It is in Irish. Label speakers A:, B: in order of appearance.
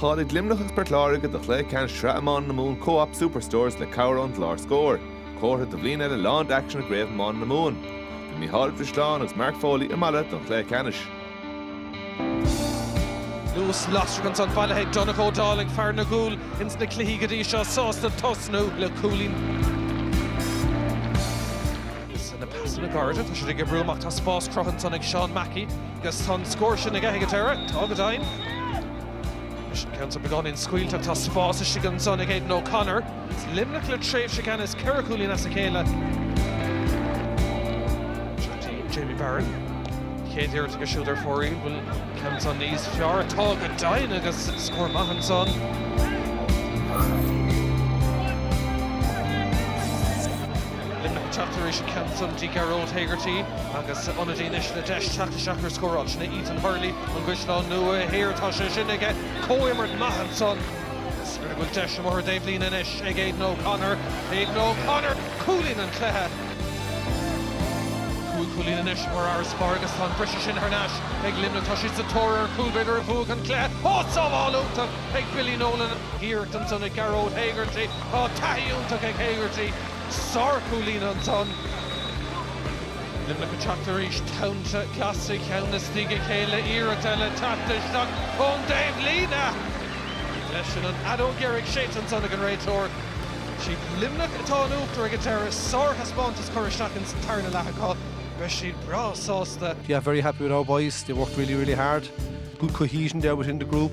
A: Cháiligh Luimneach agus Port Láirge do chluiche ceannais Shraith Iomána na Mumhan Co-Op Superstores le cabhair ón gclár Scór. Comhartha do bhliain eile lán d'aicsean i gCraobh Iomána na Mumhan. Bhí Mícheál Ó Drisleáin agus Mark Foley i Mala don chluiche ceannais.
B: Luas lasrach ansan bailithe ag Donncha Ó Dálaigh, fear na gcúl ins na cluichí go dtí seo, sásta tosnú le cúilín. Is na pasanna gairide tá siad ag oibriú amach, tá spás cruthaithe ansan ag Seán Mackey, agus an bhfuil an scór sin aige ag an deireadh, tá go deimhin. Is an ceann seo beagán ró-scaoilte, tá spás istigh ansan ag Aidan O'Connor. Is Luimneach le tréimhse ceannais ceithre chúilín as a chéile. Seo go dtí Jamie Barron. Chéad iarracht aige siúd ar fóraoil. An bhfuil an ceann seo níos fearr. Tá go deimhin agus scór maith ansan. Luimneach ag teacht arís an ceann san go dtí Gearóid Hegarty agus ionadaí anois le deis teacht isteach ar an scóráil. Sin é Ethan Hurley, ón gCaisleán Nua Thiar, tá sé sin aige, comhimirt maith ansan agus b'fhéidir go bhfuil deis amuigh ar an dtaobhlíne anois ag Aidan O'Connor. Aidan O'Connor, cúilín an cluiche. Cúig chúilín anois mar fharasbarr agus tá an briseadh sin thar n-ais ag Luimneach. Tá siad sa tóir ar an chúl b'fhéidir a bhuafaidh an cluiche. Á sábháil iontach ag Billy Nolan. Iarracht ansan ag Gearóid Hegarty. Taithí iontach ag Hegarty, sárchúilín ansan. Luimneach ag teacht arís, tonnta glasa ceann i ndiaidh a chéile, iarracht eile teacht isteach ón dtaobh líne. Leis sin an fheadóg dheiridh séidte ansan ag an réiteoir. Siad Luimneach atá in uachtar ag an deireadh, sárthaispeántas curtha isteach ins an tarna leath acu, beidh siad breá sásta. Yeah, very happy with our
C: boys, they worked really, really hard. Good cohesion there within the group.